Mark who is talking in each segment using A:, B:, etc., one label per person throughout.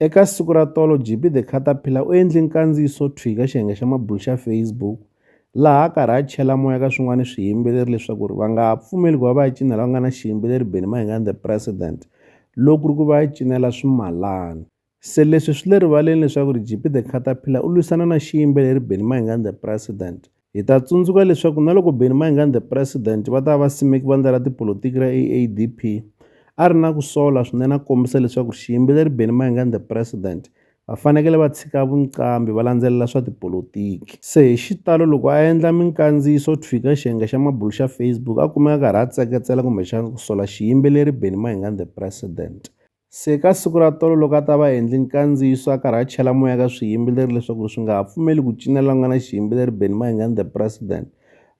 A: Eka siku ra tolo JP the Caterpillar u endle nkandziyiso thwii ka xiyenge xa mabulu xa Facebook laha a karhi a chela moya ka swin'wana swiyimbeleri leswaku ri va nga ha pfumeli ku va va ya cina lava nga na xiyimbeleri Benny Mayengani the President loko ku ri ku va ya cinela swimalana. Se leswi swi le rivaleni leswaku ri JP the Caterpillar u lwisana na xiyimbeleri Benny Mayengani the President. Hi ta tsundzuka leswaku na loko Benny Mayengani the President va ta va va simeke vandla ra tipolotiki ra AADP, a ri na ku sola swinene a kombisa leswaku xiyimbeleri Benny Mayengani the President va fanekele va tshika vunqambi va landzelela swa tipolotiki. Se hi xitalo loko a endla minkandziyiso thwi ka xiyenge xa mabulu xa Facebook a kumeka a karhi a tseketsela kumbexana ku sola xiyimbeleri Benny Mayengani the President. Se ka siku ra tolo loko a ta va endli nkandziyiso a karhi a chela moya ka swiyimbeleri leswaku swi nga ha pfumeli ku cinela la ku nga na xiyimbeleri Benny Mayengani the president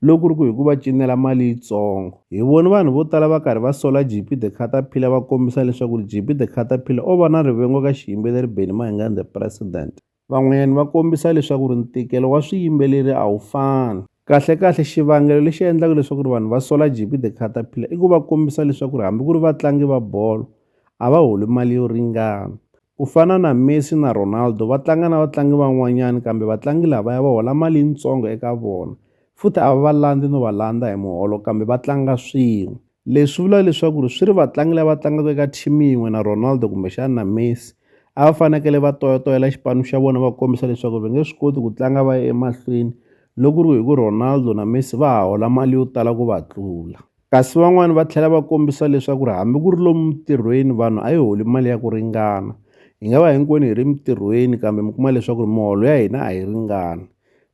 A: loko ku ri ku hi ku va cinela mali yitsongo hi voni vanhu vo tala va karhi va sola JP the Caterpillar va kombisa leswaku JP the Caterpillar o va na rivengo ka xiyimbeleri Benny Mayengani the president Van'wanyana va kombisa leswaku ri ntikelo wa swiyimbeleri a wu fani. Kahle-kahle xivangelo lexi endlaka leswaku ri vanhu va sola JB The Caterpillar i ku va kombisa leswaku ri hambi ku ri vatlangi va bolo a va holi mali yo ringana. Ku fana na Messi na Ronaldo va tlanga na vatlangi van'wanyana kambe vatlangi lavaya va hola mali yitsongo eka vona futhi a va va landzi no va landza hi muholo kambe va tlanga swin'we. Leswi vula leswaku ri swi ri vatlangi lava tlangaka eka team yin'we na Ronaldo kumbexana na Messi a va fanekele va toyatoyela xipano xa vona va kombisa leswaku va nge swi koti ku tlanga va ya emahlweni loko ku ri hi ku Ronaldo na Messi va ha hola mali yo tala ku va tlula kasi van'wani va tlhela va kombisa leswaku ri hambi ku ri lomu mintirhweni vanhu a yi holi mali ya ku ringana hi nga va hinkwenu hi ri mintirhweni kambe mi kuma leswaku ri miholo ya hina a yi ringani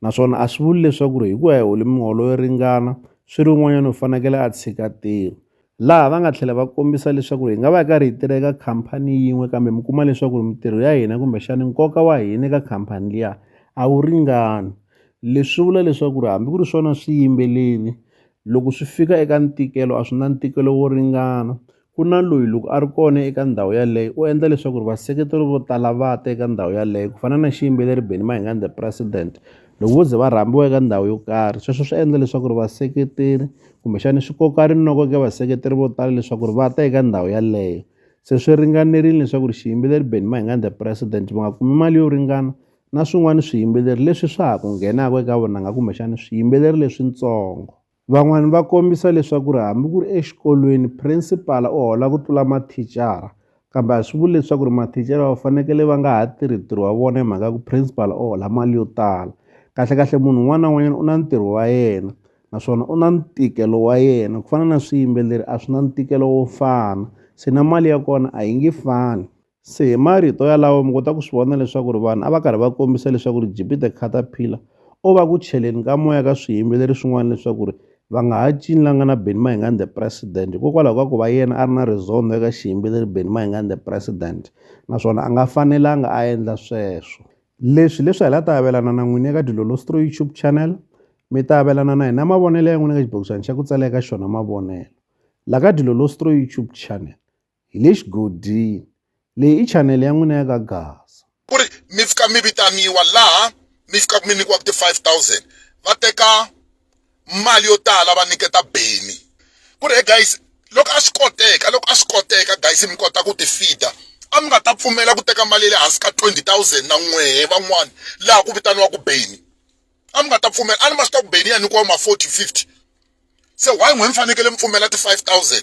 A: naswona a swi vuli leswaku ri hikuva hi hole miholo yo ringana swi ri un'wanyana u fanekele a tshika ntirho laha va nga tlhela va kombisa leswaku hi nga va hi karhi hi tirha eka khampani yin'we kambe mi kuma leswaku ri mintirho ya hina kumbexani nkoka wa hina eka khampani liya a wu ringani leswi vula leswaku ri hambi ku ri swona swiyimbeleri loko swi fika eka ntikelo a swi na ntikelo wo ringana ku na loyi loko a ri kona eka ndhawu yaleyo u endla leswaku ri vaseketeri vo tala va ta eka ndhawu yaleyo ku fana na xiyimbeleri Benny Mayengani the president loko vo ze va rhambiwa eka ndhawu yo karhi sweswo swi endla leswaku ri vaseketeri kumbexani swi koka rinoko eka vaseketeri vo tala leswaku ri va ta eka ndhawu yaleyo se swi ringanerile leswaku ri xiyimbeleri Benny Mayengani the president va nga kumi mali yo ringana na swin'wana swiyimbeleri leswi swa ha ku nghenaka eka vunanga kumbexana swiyimbeleri leswitsongo. Van'wana va kombisa leswaku ri hambi ku ri exikolweni principal u hola ku tlula mathicara kambe a swi vuli leswaku ri mathicara va fanekele va nga ha tirhi ntirho wa vona hi mhaka ya ku principal u hola mali yo tala kahlekahle munhu un'wana na un'wanyana u na ntirho wa yena naswona u na ntikelo wa yena ku fana na swiyimbeleri a swi na ntikelo wo fana se na mali ya kona a yi nge fani. Se hi marito yalawo mi kota ku swi vona leswaku ri vanhu a va karhi va kombisa leswaku ri Gp the Caterpillar o va ku cheleni ka moya ka swiyimbeleri swin'wana leswaku ri va nga ha cinlanga na Benny Mayengani the President hikokwalaho ka ku va yena a ri na rizondho eka xiyimbeleri Benny Mayengani the President naswona a nga fanelanga a endla sweswo leswi leswi hi la ta avelana na n'wini eka Dilolostro YouTube channel mi ta avelana na hina mavonelo ya n'wina ka xibokisana xa ku tsala eka xona mavonelo la ka Dilolostro YouTube channel hi le xigodini. Leyi i chanele ya n'wina ya ka Gaza. Ku ri mi fika
B: mi vitaniwa laha mi fikaka mi nyikiwaka ti 5000 va teka mali yo tala va nyiketa Benny ku ri he guys loko a swi koteka loko a swi koteka guys mi kota ku ti feeder a mi nga ta pfumela ku teka mali ya le hansi ka 20000 na n'wehe van'wani laha ku vitaniwaka Benny a mi nga ta pfumela a ni ma swi tiva ku Benny ya nyikiwa ma 40 50 se why n'wehe mi fanekele mi pfumela ti 5000